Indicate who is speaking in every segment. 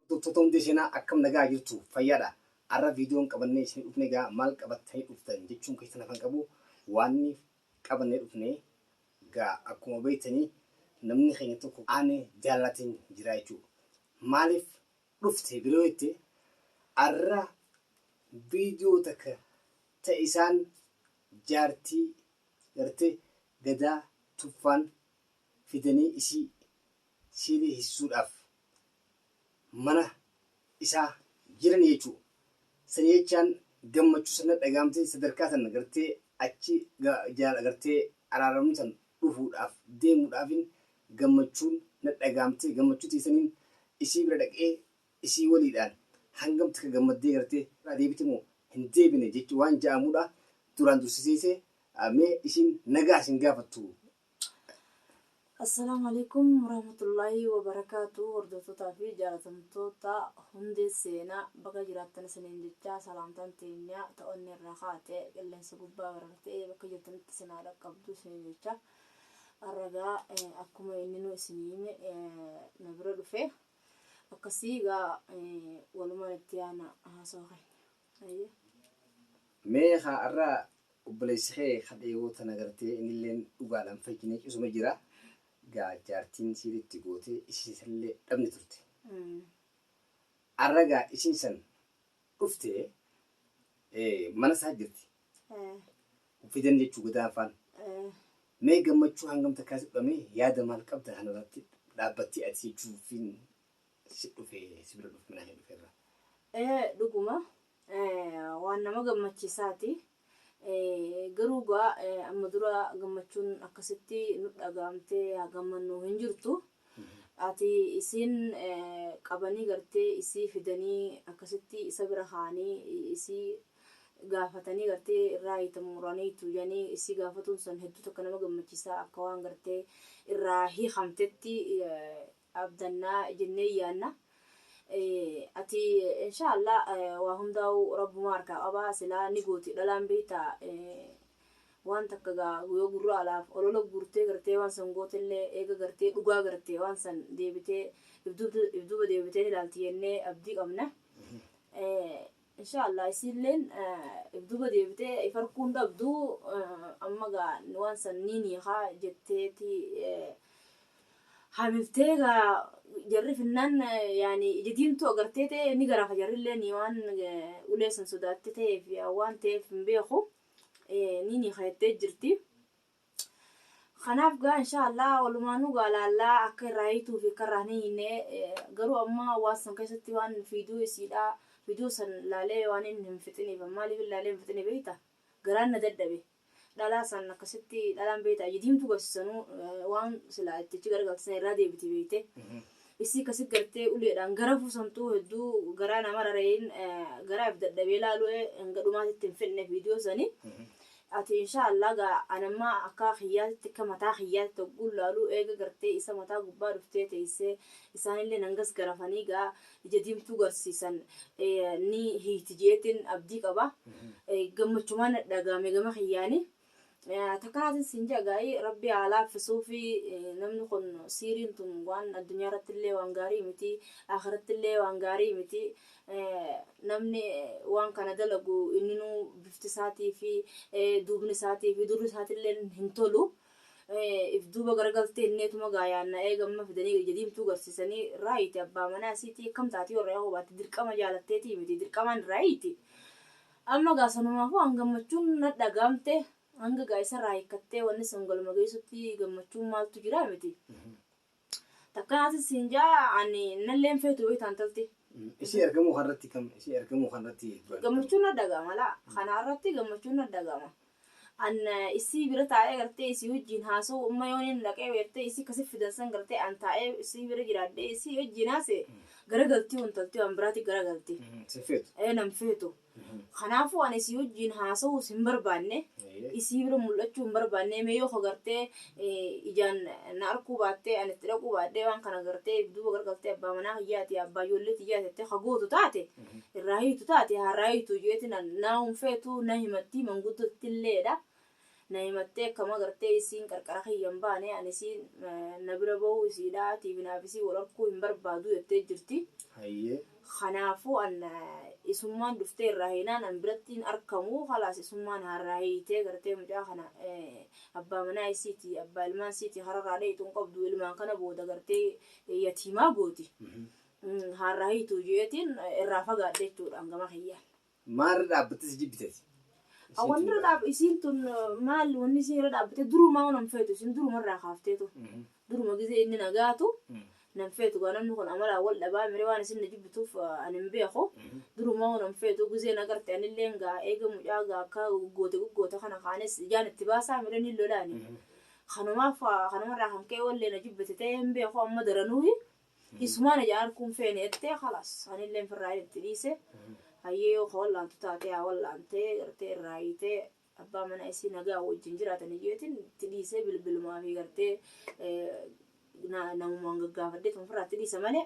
Speaker 1: Hordoftoota hundee seenaa akkam nagaa jirtu fayyaadha arra viidiyoon qabannee isin dhufne gaa maal qabattanii dhuftan jechuun keessan hafan qabu waanni qabannee dhufne gaa akkuma beektanii namni keenya tokko aane jaalalatiin jira jechuu maaliif dhufte biroo jette arra viidiyoo takka ta isaan jaartii garte gadaa tuffaan fidanii isii siilii hisuudhaaf mana isaa jirani jechuu sani jechaan gammachu san na dhagaamte sadarkaa san gartee achi jaala gartee araaramnu san dhufuudhaaf deemuudhaafin gammachuun na dhagaamte gammachu tiyya saniin isii bira dhaqee isii waliidhaan hangam takka gammaddee gartee irraa deebite moo hin deebine jechu waan ja'aamudha duraan dursiseese mee isiin nagaa isin gaafattu Assalaamu
Speaker 2: alaikum warahmatullaahi wabarakaatu hordoftotaa fi jaalatamtoota hundee seenaa baga jiraattan isiniin jechaa salaamtaan teenyaa ta onnee irraa kaate qilleensa gubbaa barartee bakka jirtanitti isin haa dhaqqabdu isiniin jechaa arragaa eh, akkuma inninuu isin hime eh, na bira dhufe akkasii gaa eh, walumaan itti yaana haasoo keenya. Hayyee.
Speaker 1: Mee haa har'a obboleessi kee kadhee yoo tana gartee innilleen dhugaadhaan fayyinee cusuma jira. Gaa jaartiin siil itti gootee isii sanillee dhabne turte. Mm. Har'a gaa isiin san dhufte eh, mana isaa jirti. Eh, Fidan jechuu godaanfaan. eh, Mee gammachuu hangam takkaa si dhudhamee yaada maal qabda kanarratti dhaabbattee ati jechuufiin si dhufe si bira dhufe manaa kee dhufe irra. Ee dhuguma
Speaker 2: waan nama gammachiisaati. Garuu gaa amma dura gammachuun akkasitti nu dhagaamtee haa gammannuu hin jirtu. Ati isiin qabanii gartee isii fidanii akkasitti isa bira kaanii isii gaafatanii gartee irraa hiitan muraniitu jedhanii isii gaafatuun san hedduu takka nama gammachiisaa akka waan gartee irraa hiikamtetti abdanna jennee yaanna. Ati inshaa Allah waa hundaa'uu Rabbumaa harkaa qaba silaa ni gooti dhalaan beektaa waan takka gaa yoo gurra alaaf olola guurtee gartee waan san gootellee eega gartee dhugaa garte waan san deebitee if duuba deebitee ni laalti jennee abdii qabna. Inshaa Allah isiilleen ifduuba deebitee if arkuu hin dhabdu amma gaa waan san niin hiikaa jetteeti hamiftee gaa jarri finnaan yaani ija diimtuu agartee ta'e ni garaafa jarrilleen waan ulee san sodaatte ta'eef waan ta'eef hin beeku niin hiika jettee jirti. Kanaaf gaa inshaa Allah walumaanuu gaa laallaa akka irraa hiituu fi akka irraa hin hiine garuu amma waan san keessatti waan fiiduu isiidha fiiduu san laalee waan inni hin fixiniif maaliif hin laalee hin fixine beeyta garaan na dadhabe dhalaa san akkasitti dhalaan beeyta aji diimtuu garsisanuu waan silaa itti achi garagalti san irraa deebiti beeyte Isii ka si gartee uleedhaan garafuu santuu hedduu garaa na marare in garaa if dadhabee laalu'e hanga dhumaatitti hin fedhne video sani ati inshaa Allah ga an amma akkaa kiyyaatitti akka mataa kiyyaatitti hogguun laaluu eega gartee isa mataa gubbaa dhuftee teessee isaanilleen hangas garafanii ga ija diimtuu garsiisan ni hiiti je'eetin abdii qaba gammachumaan nadhagahame gama kiyyaani. Takaatin siin jaa gaa'ii rabbi haa laaffisuufi namni kun siiriin tun waan addunyaa irratti illee waan gaarii miti akhiratti illee waan gaarii miti namni waan kana dalagu inninuu bifti isaatii fi duubni isaatii fi durri isaatii illee hin tolu if duuba garagaltee inneetuma gaayaanna eegamma fidanii ija diimtuu garsiisanii raayiiti abbaa manaa isiitii akkam taati warra yahoo baatti dirqama jaalatteetii miti dirqamaan raayiiti. Amma egaa sanumaafuu an gammachuun nat dhaga'amte hanga egaa isarraa hiikkattee wanni sun galma geessutti gammachuun maaltu jira miti. Takka naatin siin ja'a ani nalleen feetu beektaa intalti. Isii ergamuu
Speaker 1: kanarratti kam isii ergamuu kanarratti Gammachuun nat dhaga'ama
Speaker 2: laa kanarratti gammachuun nat dhaga'ama. an isii bira taa'ee gartee isii wajjiin haasa'u amma yoon hin dhaqee beektee isii kasi fidan san gartee an taa'ee isii bira jiraadhee isii wajjiin haase garagaltii wantaltii waan biraati garagalti Sifeetu. ee nan feetu kanaafuu an isii wajjiin haasa'uus hin barbaanne isii bira mul'achuu hin barbaanne mee yoo ko gartee ijaan na arkuu baattee ani itti dhaquu baadhee waan kana gartee duuba gargaltee abbaa manaa kiyyaati abbaa ijoollee tiyyaa jettee ka gootu taate irraa hiitu taate harraa hiitu jeeti na naa hunfeetu na himattii manguddootti illeedha na himattee akkama gartee isiin qarqara kiyya hin baane ani isiin na bira bahuu isiidha tiibinaaf isii wal arkuu hin barbaadu jettee jirti. Hayyee Kanaafuu an isummaan dhuftee irraa hiinaan an biratti hin arkamuu kalaas isummaan haa irraa hiitee gartee mucaa kana abbaa manaa isiiti abbaa ilmaan isiiti hararaa dheeyxu hin qabdu ilmaan kana booda gartee yatiimaa gooti haa irraa hiituu jeetiin irraa fagaadhe jechuudha an gama kiyyaan. Maarra dhaabbattee
Speaker 1: si jibbite ati? Isiin tun Wanni irra
Speaker 2: baay'ee. dhaab isiin tun maal wanni isiin irra dhaabbattee durumaa waan hin feetu isiin duruma irraa kaafteetu. Mhm. Duruma gizee inni na gaatu Mhm. nan feetu gaa namni kun amalaan wal dhabaa miree waan isin na jibbituuf ah, ani hin beeku. Mhm. Durumaa waan hin feetu gizee na garte anillee gaa eega mucaa gaa akka goggoote goggoote kana kaanis ijaan itti baasaa miree ni lolaani. Mhm. Kanumaaf ah, kanumarraa kan ka'e wallee na jibbite ta'ee hin beeku amma daranuuhi Isumaa na jalaa arguu hin feene jettee kalaas anillee firraayeen itti dhiise hayyee yoo ka wallaantu taatee haa wallaantee gartee irraa hiitee abbaa manaa isii nagaa wajjin jiraatan iyyeetiin itti dhiisee bilbilumaa fi gartee namumaan gaggaafadhee tuma firraa itti dhiisa malee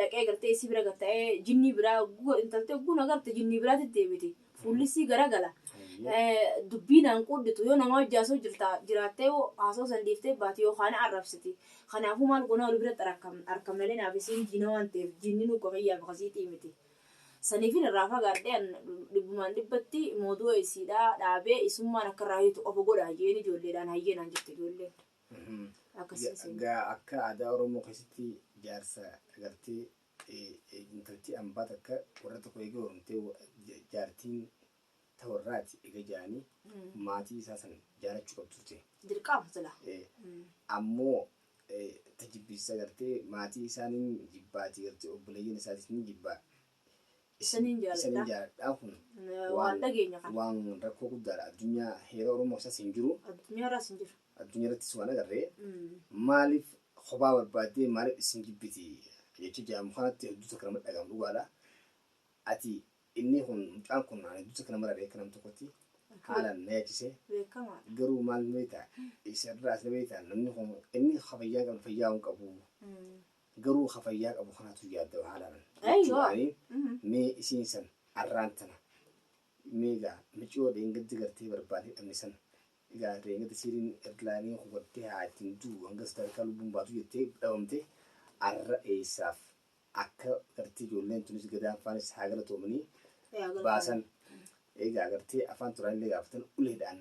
Speaker 2: dhaqee gartee isii bira gatta'ee jinnii biraa intaltee guna garte jinnii biraatti deebiti. fuullissii garagala. Dubbii naan quudhitu yoo namaa wajji haasoo jirta jiraattee yoo haasoo san dhiiftee baate yookaan na arrabsiti. Kanaafuu maal goonaa wal biratti arkamna arkamna malee naaf isiin diina waan ta'eef diinni nuu ka kiyyaa fi ka siitii miti. Saniifin irraa fagaadhee an dhibbumaan dhibbatti moodu'a isiidhaa dhaabee isummaan akka irraa hiitu qofa godhaa je'een ijoolleedhaan hayyee naan jette ijoolleen. Akkasiin seenaa. Gaa
Speaker 1: akka aadaa Oromoo keessatti jaarsa gartee intalti ambaa takka warra tokko eega horumtee jaartiin ta warraati eega jaani maatii isaa san jaalachu qab turte. Dirqaama sila.
Speaker 2: Ammoo
Speaker 1: ta jibbiisa gartee maatii isaa nin jibbaati gartee obboleeyyan isaatis nin jibbaa.
Speaker 2: Isaniin jaaladha
Speaker 1: kun waan
Speaker 2: waan rakkoo guddaadha
Speaker 1: addunyaa heera oromoo isaas hin jiru
Speaker 2: addunyaa irrattis waan agarre
Speaker 1: maaliif kophaa barbaaddee maaliif isin jibbiti jecha jedhamu kanatti hedduu takka nama dhaga'amu dhugaadha ati inni kun mucaan kun ani hedduu takka nama dhaga'e akka nam tokkotti haalaan na yaachise garuu maal beekta isa irraa asna beekta namni kun inni fayyaa qabu fayyaa hin qabu Garuu ka fayyaa qabu kanatu yaaddawa haala nan. Ayii yoo. Mee isiin san arraan tana mee gaa miciyoo dheengadda gartee barbaadee dhabne san gaa dheengadda siiriin ergilaanii hubattee haa ittiin du'u hanga sadarkaa lubbuun baatu jettee dhabamte arra eessaaf akka gartee ijoolleen tunis gadaan faanis haa galatoomanii baasan egaa gartee afaan turaa illee gaafatan uleedhaan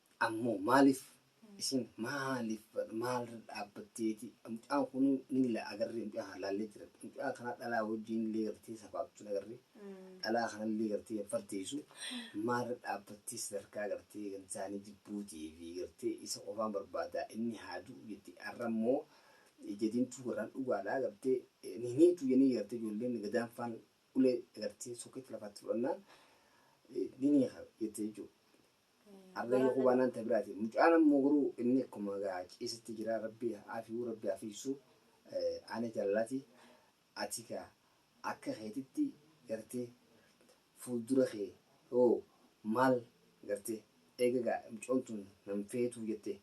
Speaker 1: Ammoo maaliif isiin maaliif maalirra dhaabbatteeti mucaan kun nilla agarree mucaa kana laallee jira mucaa kana dhalaa wajjin illee gartee safaatuun agarree dhalaa kana illee gartee hin farteessu maalirra dhaabbattee sadarkaa gartee gansaanii jibbuutii fi gartee isa qofaan barbaadaa inni haa du'u jettee har'a immoo ija diimtuu garaan dhugaadhaa gartee ni hiniitu jennee gartee ijoolleen gadaan faan ulee gartee sokkeetti lafaatti fudhannaan ni ni jettee jechuudha. Abbayyoo kubaa naan ta biraati mucaan ammoo garuu inni akkuma gaa ciisitti jira rabbi aafiyuu rabbi afiisu ana jallati ati gaa akka keetitti garte fuuldura kee hoo maal garte eega gaa mucoon tun nan feetuu jette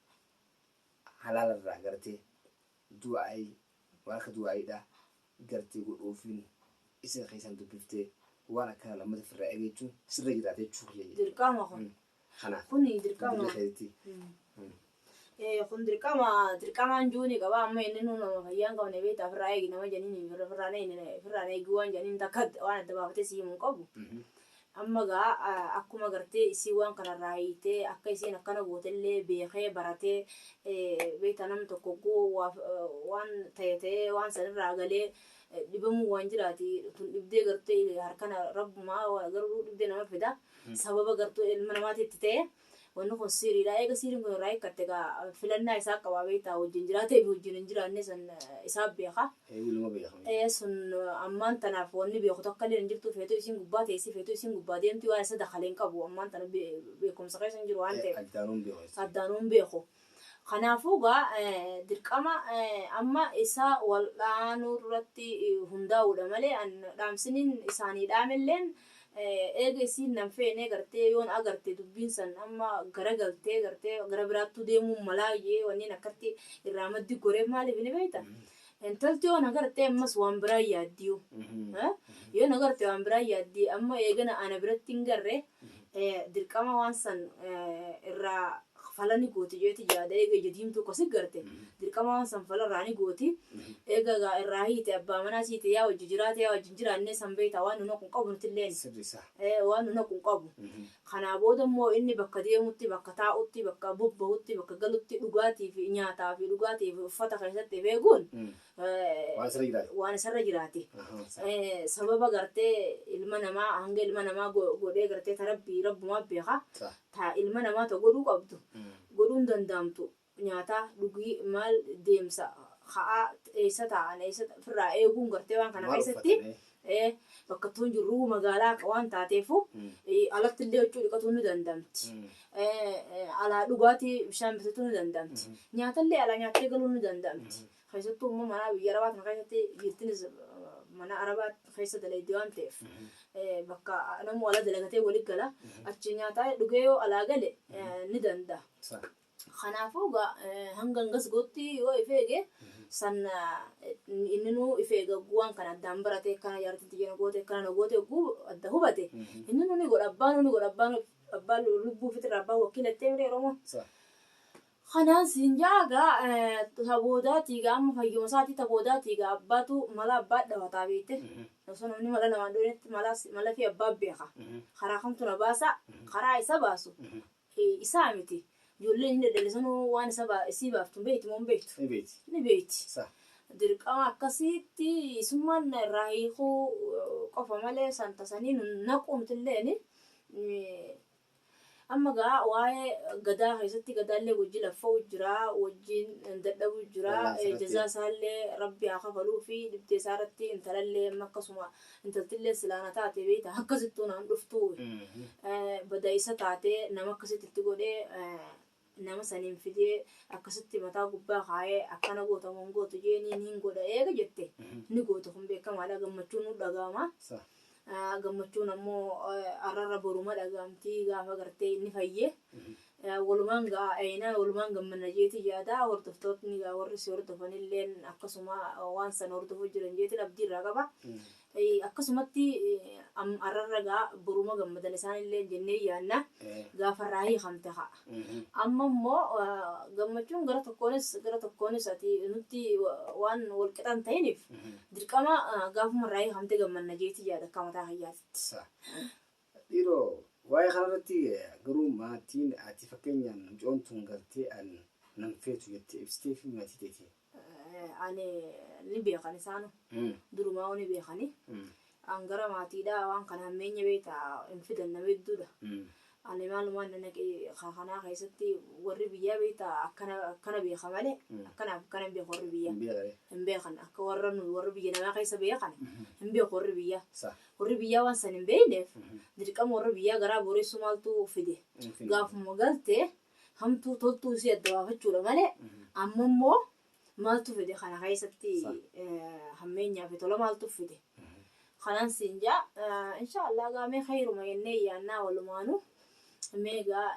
Speaker 1: halaalarraa garte du'aa'ii Waan ka du'aayiidhaa gartee godhuufiin isin keessaan dubbiftee waan akkanaa lammata firraa egeechuun sirra jiraata jechuu kiyya jedhe. Dirqama kun.
Speaker 2: Kanaaf. Kun dirqama. Dirri keetti. Kun dirqama dirqamaan juu ni qaba amma inni nu nama fayyaa hin qabne beektaa firraa eegi nama janiin firraan eegi waan janiin takka waan adda baafatee si himu hin qabu. Amma egaa akkuma gartee isiin waan kana irraa hiitee akka isiin akkana goote illee beekee baratee beektaa namni tokko hogguu waan ta'e ta'ee waan san irraa galee dhibamuu waan jiraati tun dhibdee gartee harkana rabbumaa garuu dhibdee nama fida sababa gartuu ilma namaatitti ta'e Wanni kun siiriidha. Eega siiriin kun irraa hiikkatte gaa filannaa isaa qaba beektaa wajjin jiraatee fi wajjin hin jiraanne sun isaa beeka. Ee ilma beeka miti. Ee sun ammaan tanaaf wanni beeku takkalleen hin jirtu feetuu isiin gubbaa teessi feetuu isiin gubbaa deemti waan isa dakale hin qabu ammaan tana beekumsa keessa hin jiru waan ta'eef. Ee addaanuu hin beeku jechuudha. Addaanuu hin beeku. Kanaafuu egaa dirqama amma isa wal'aanuu irratti hundaa'uudha malee an dhaamsiniin isaanii dhaamelleen eega isiin nan feenee gartee yoon agarte dubbiin san amma gara galtee gartee gara biraattuu deemuun malaa jee wanniin akkatti irraa maddi goreef maaliif ni beekta Intalti yoo na garte ammas waan biraa yaaddiyu. Yoo na garte waan biraa yaaddi amma eegana ana biratti hin garre dirqama waan san irraa fala ni gooti jeeti yaada eega ija diimtuu kasi garte dirqama waan san fala irraa ni gooti eega gaa irraa hiite abbaa manaa siite yaa wajji jiraate yaa wajji hin jiraannee san beeyta waan nuna kun qabu nutilleen waan nuna kun qabu Kanaa booda immoo inni bakka deemutti, bakka taa'utti, bakka bobbahutti, bakka galutti dhugaatii fi nyaataa fi dhugaatii fi uffata keessatti of eeguun Waan isarra jiraate. waan isarra jiraate. Ahaa, isaa. Eh, Sababa gartee ilma namaa hanga ilma namaa go- godhee gartee ta rabbii rabbumaa beeka. Sah. Ta ilma namaa ta godhuu qabdu Mm. godhuun dandaamtu nyaataa, dhugii, maal, deemsa, ka'aa, eessa taa'an, eessa firraa eeguun gartee waan kana keessatti bakkattuun jirruu magaalaa akka waan taateefu alatti illee huccuu dhiqatuu ni dandamti. Alaa dhugaatii bishaan bitatuu ni dandamti. Nyaata illee alaa nyaattee galuu ni dandamti. Keessattuu immoo manaa biyya arabaa kana keessatti dhiirtinis mana arabaa keessa dalaydi waan ta'eef bakka namuu alaa dalagatee wali gala achi nyaataa dhugee yoo alaa gale ni danda'a. Kanaafuu egaa hanga hangas gootti yoo if eege san inninuu if eega ogguu waan kana addaan barate akkana jaartiin tiyya na goote akkana na goote ogguu adda hubate inninuu ni godha abbaanuu ni godha abbaan abbaan lubbuu fitirra abbaan wakkila jettee miti Oromoon. Kanaan siin ja'a egaa ta boodaatii egaa amma fayyuma isaatii ta boodaatii egaa abbaatu mala abbaa dhawataa beekte osoo namni mala namaan dhoonetti mala malafii abbaa beeka karaa kamtu na baasa karaa isa baasu Hee isaa miti. Ijoolleen inni dhaldhale sanuu waan isa ba- isii baaftu hin beektu moo hin beektu? Ni beekti. Ni beekti. Sa. Dirqama akkasiitti isummaan na irraa hiikuu qofa malee san tasanii nu naquu nutilleen amma gaa waa'ee gadaa keessatti gadaallee wajji laffa'u jira wajjiin dadhabuu jira Wallaansa irratti. jazaa isaallee rabbi haa kafaluu fi dhibdee isaa irratti intalallee amma akkasuma Intaltilleen silaa na taate beeyta akkasittuu naan dhuftuu bada isa taate nama akkasitti itti godhee nama saniin fidee akkasitti mataa gubbaa kaayee akkana goota moo hin gootu jeenii niin godha eega jette ni goota kun beekamaadha gammachuun nu dhaga'ama. Sa. Ah, gammachuun ammoo eh, arrarra boruma dhaga'amti gaafa gartee inni fayye Walumaan eeyna, walumaan gammanna jeetiin yaada. Hordoftootni egaa warri si hordofan illeen akkasuma waan san hordofuu jiran jeetiin abdii irraa qaba. Akkasumatti arrarra egaa boruma gammadan isaan illeen jennee yaanna. Gaafa irraa hiikamte kaa. Amma immoo gammachuun gara tokkoonis gara tokkoonis ati nutti waan wal qixa hin ta'iniif dirqama gaafuma irraa hiikamte gammanna jeetiin yaada akka mataa kiyyaatitti.
Speaker 1: Dhiiroo waa'ee kana irratti garuu maatiin ati fakkeenyaan mucoon tun galtee an nan feetu jettee ibsitee fi maatii teeti. Ani
Speaker 2: ni beekan isaanu durumaa'uu ni beekani. An gara maatiidhaa waan kana hammeenya beekta hin fidan nama hedduudha. Ani maalumaan na naqe kaa kanaa keessatti warri biyyaa beekta akkana akkana beeka malee akkanaaf akkana hin beeku warri biyyaa. Hin beekani. Hin beekan akka warra nu warra biyya namaa keessa beekan hin beeku warri biyyaa. Sa. Warri biyyaa waan san hin beeyneef dirqama warra biyyaa garaa booressuu maaltu fide? Gaafuma galte hamtuu toltuu isii adda baafachuudha malee amma immoo maaltu fide kana keessatti hammeenyaa fi tola maaltu fide? Kanaan siin jaa inshaa Allah gaa mee khayruma jennee yaannaa walumaanu mee gaa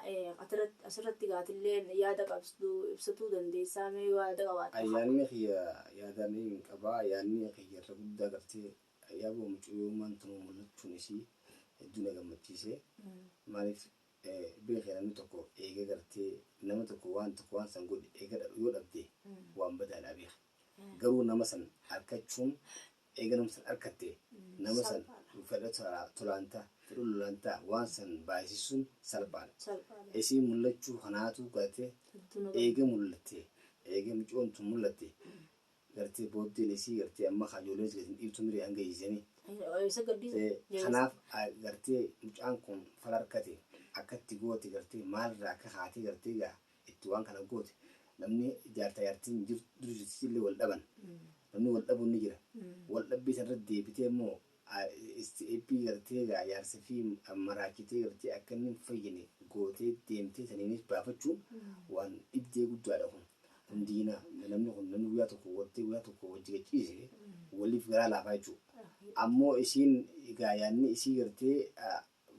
Speaker 2: asirratti gaatilleen yaada qabsdu ibsatuu dandeessaa mee yaada qabaatte. Yaanni kiyya
Speaker 1: yaada hin qabaa yaanni kiyya irra guddaa gartee Yaboo mucayyoommaan tun mul'achuun isii hedduu na gammachiise. Maaliif beekee namni tokko eega gartee nama tokko waan tokko waan san godhe eega dha- yoo dhabde waan badaadhaa beeki. Garuu nama san arkachuun eega nama san arkatte nama san Salphaadha. fedha tolaa- tolaan ta, fedha lolaan ta waan san baayisissuun salphaadha. Salphaadha. Isii mul'achuu kanaatu gartee Hedduu na eega gammachiise. mul'atte eega mucayoon tun mul'atte Gartee booddeen isii gartee amma kaa ijoollee isii gadi hin dhiiftu mire hanga hiisanii. Isa gaddi. Kanaaf gartee mucaan kun fala harkate akka itti goote gartee maal irraa akka kaatee gartee gaa itti waan kana goote namni jaartaa jaartiin dur jirtisillee wal dhaban namni wal dhabuun ni jira wal dhabbii san irratti deebitee immoo Stepii galtee egaa jaarsafii maraachitee galtee akka inni hin fayyine gootee deemtee saniinis baafachuun waan dhibdee guddaadha kun. Kun diina namni kun namni guyyaa tokko gortee guyyaa tokko wajji gad ciise waliif garaa laafaa jechuudha. Ammoo isiin egaa yaadni isii gartee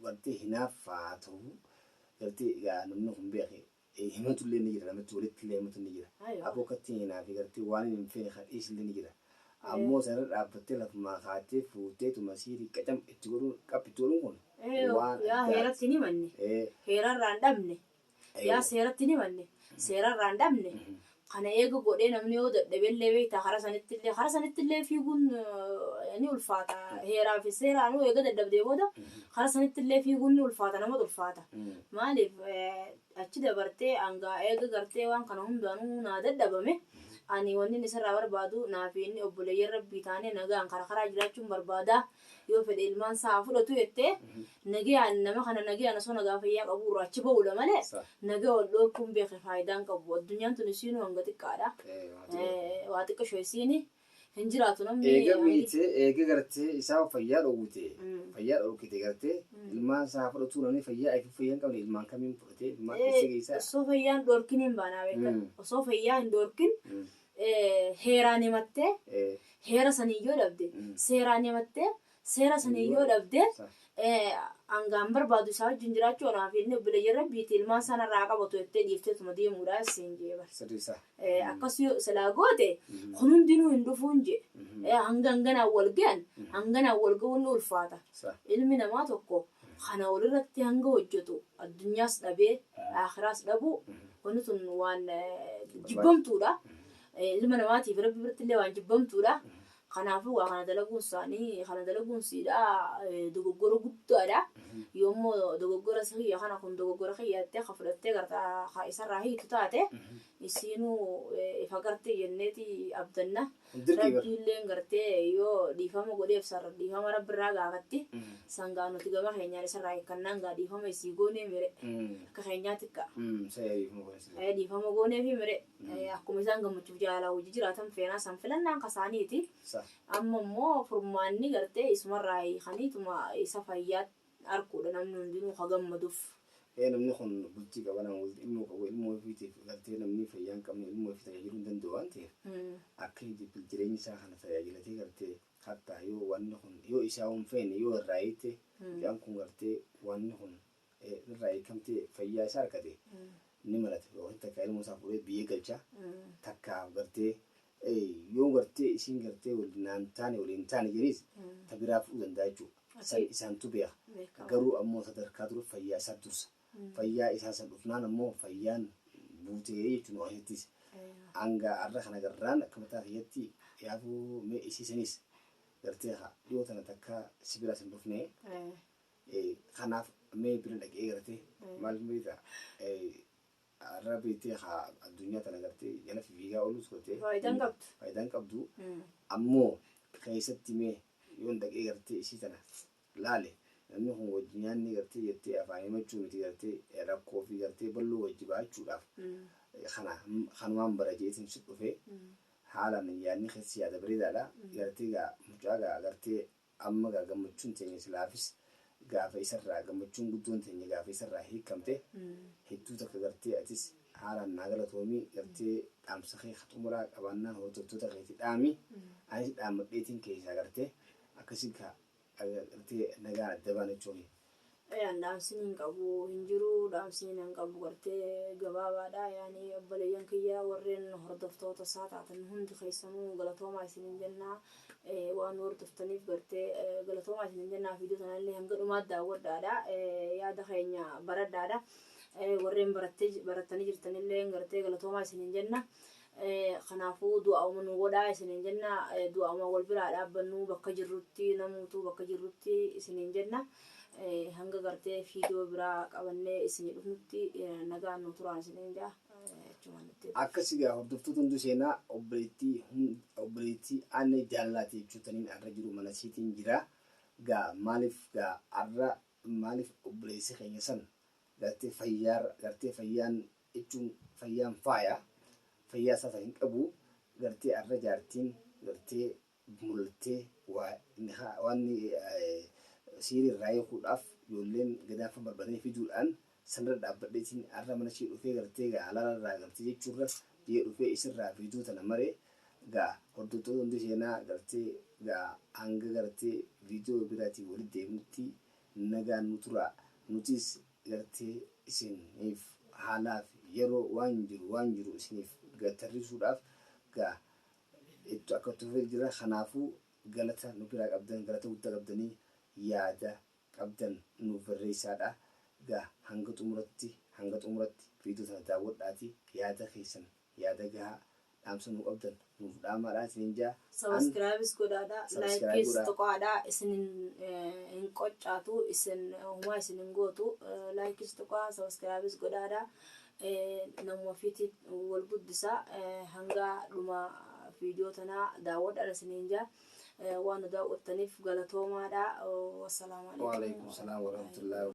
Speaker 1: gartee hinaaffaa ta'uu gartee egaa namni kun beeke Himatulle ni jira namatti walittille himatu ni jira Aywa. aboo kattiin hinaafi
Speaker 2: gartee
Speaker 1: waanin hin feene ka dhiisille ni jira Ee. ammoo sanirra dhaabbattee lafumaa kaattee fuuteetuma siirii qacam itti godhuun qap itti godhuun kun Ee yoo waan yaa addaati heeratti
Speaker 2: hin himanne Ee. heerarraa hin dhabne Ee. yaa seeratti hin himanne seerarraa hin dhabne Kana eega godhee namni yoo dadhabellee beektaa karaa sanittillee karaa sanittillee fiiguun ni ulfaata. Heeraa fi seeraanuu eega dadhabdee booda karaa sanittillee fiiguun ni ulfaata namatu ulfaata. Maaliif achi dabartee hangaa eega gartee waan kana hundaanuu naa dadhabame ani wannin isarraa barbaadu naa fi inni obboleeyyan rabbii taanee nagaan karaa karaa jiraachuun barbaada. yoo fedhe ilmaan isaa haa fudhatu jettee nagayaan nama kana nagayaan osoo nagaa fayyaa qabuu irraa achi ba'uudha malee Sa. nagaa wal dhoorkuun beeke faayidaan qabu addunyaan tun isiinuu hanga xiqqaadha Eh, waa xiqqoo. Eh, waa xiqqisho isiini hin jiraatu namni Eega hangi- miite, eega
Speaker 1: gartee isaa fayyaa dhowwite, Mm. fayyaa dhorkite gartee, Mm. ilmaan isaa haa fudhatuu namni fayyaa ifi fayyaa hin qabne ilmaan kamiin fudhatee ilmaan Eh, keessa geessaa. osoo fayyaan dhoorkin
Speaker 2: hin baanaa beekan Mm. osoo fayyaa hin dhoorkin Mm. heeraan himattee heera saniin yoo dhabde seeraan himattee seera saniin yoo dhabde hangaan barbaadu isaa wajjin jiraachuu anaa fi inni obboleeyyan rabbiiti ilmaan sana irraa qabatu jettee dhiifteetuma deemuudha siin jee bar. Akkas yoo silaa goote kun hundinuu hin dhufuun jee hanga hanganaan wal gahan hanganaan wal gahuun ni ulfaata. Ilmi namaa tokko Kana olirratti hanga hojjatu addunyaas dhabee aakhiraas dhabuu wanni tun waan jibbamtuudha. Ilma namaatiif Rabbi birattillee waan jibbamtuudha. Kanaafuu waa kana dalaguun isaanii kana dalaguun siidha dogoggora guddaadha. Yoo immoo dogoggora si kiyya kana kun dogoggora kiyya jettee ka fudhattee garta ka isarraa hiitu taate isiinuu ifa garti jenneeti abdanna. Rabbiilleen gartee yoo dhiifama godheef san dhiifama Rabbi irraa gaafatti. San gaa nuti gama keenyaan isarraa hiikkannaan gaa dhiifama isii goonee mire. Akka keenyaatti kaa. Ee dhiifama gooneefi mire. Akkuma isaan gammachuuf jaalalaa wajji jiraatan feenaa san filannaan kasaaniiti. Amma immoo furmaanni gartee isumarraa hiikaniituma isa fayyaatti. arkuudha namni hundinuu ka gammaduf. Ee namni kun
Speaker 1: bultii qaba nama walitti ilmoo qabu ilmoo ofiitiif gartee namni fayyaa hin qabne ilmoo ofii tajaajiluu hin danda'u waan ta'eef akka hijibbil jireenyi isaa kana tajaajilatee gartee kattaa yoo wanni kun yoo isaa hin feene yoo irraa hiite mucaan kun gartee wanni kun irraa hiikamtee fayyaa isaa argate ni malata yookiin takka ilmoo isaa fuudhee biyya galcha takkaaf gartee yoo gartee isiin gartee wal naan taane walii hin taane jeniis ta biraa fudhuu danda'a jechuu san isaantu beeka garuu ammoo sadarkaa dura fayyaa isaa dursa fayyaa isaa san dhufnaan ammoo fayyaan buutee jechuu nu keessattis hanga arra kana garraan akka mataa kiyyatti yaafuu mee isii sanis gartee haa dhiyoo tana takka si biraa san dhufnee kanaaf mee bira dhaqee gartee maal beektaa Arra beektee ka addunyaa tana gartee jala fifiigaa ooluus gootee. Faayidaa hin qabdu. Faayidaa hin qabdu. Ammoo keessatti mee yoon dhaqee gartee isii tana laale namni kun wajji nyaannee gartee jettee afaan himachuu miti gartee rakkoo fi gartee balloo wajji bahachuudhaaf kana kanumaan bara jeetiin si dhufee haalaan yaadni keessi yaada bareedaadha gartee gaa mucaa gaa gartee Amma gaa gammachuun teenya silaafis gaafa isarraa gammachuun guddoon teenya gaafa isarraa hiikkamte hedduu takka gartee atis haalaan naa galatoomi gartee dhaamsa kee ka xumuraa qabaannaan hordoftoota keeti dhaami anis dhaammadheetiin keessaa gartee akkasi gaa gartee nagaan adda baana jechuu kiyya. Ayaan dhaamsiin
Speaker 2: hin qabu hin jiru dhaamsiin hin qabu gartee gabaabaadha yaani obboleeyyan kiyya warreen hordoftoota isaa taatan hundi keessanuu galatoomaa isin hin jennaa waan hordoftaniif gartee galatoomaa isin hin jennaa fiidoo tanallee hanga dhumaa daawwadhaadha yaada keenya baradhaadha warreen barattanii jirtanillee gartee galatoomaa isin hin jenna Kanaafuu du'aa'uma nuu godhaa isiniin jenna. Du'aa'uma wal biraa dhaabbannuu bakka jirrutti namuutuu bakka jirrutti isiniin jenna. Hanga gartee viidiyoo biraa qabannee isinii dhufnutti nagaan nuu turaan isiniin jaa. Achumaan itti dhufu.
Speaker 1: Akkas egaa hordoftoota hunduu seenaa obboleettii hund- obboleettii Annee Jaallaati jechuutaniin arra jiru mana isiitiin jira. Gaa maaliif gaa arra maaliif obboleessi keenya san gartee fayyaarra gartee fayyaan jechuun fayyaan faaya fayyaa sasa hin qabu gartee arra jaartiin gartee mul'attee waa nikaa waan siirii irraa hiikuudhaaf ijoolleen gadaa kan barbadanii fiduudhaan sanirra dhaabbadheetiin arra mana ishee dhufee gartee gaa halaala irraa gartee jechuurra jee dhufee isirraa fiiduu tana maree gaa hordoftoota hundi seenaa gartee gaa hanga gartee viidiyoo biraatiin walitti deebinutti nagaan nu turaa nutiis Jartii isiniif haa laafi yeroo waan jiru waan jiru isiniif ga tarrisuudhaaf ga ittu akka itti fufeet jirra kanaafu galata nu biraa qabdan galata gudda qabdani yaada qabdan nuuf barreessaadha ga hanga xumuratti hanga xumuratti video tana daawwadhaati yaada keessan Yaada gahaa, dhaamsa nuu qabdan nuuf dhaamaadhaa isiniin jaa, an. Subscribes
Speaker 2: godhaadhaa, like Subscribe kees godhaa. tuqaadhaa, isin hin hin qoccaatu, isin homaa isin hin gootu, likes tuqaa, subscribes godhaadhaa, namuma ofiitii wal guddisaa, hanga dhuma viidiyoo tanaa daawwadhaan isiniin jaa, waan nu
Speaker 1: daawwattaniif galatoomaadhaa,
Speaker 2: wassalaamu
Speaker 1: alaikum
Speaker 2: Waalaikum salaam warahmatullahi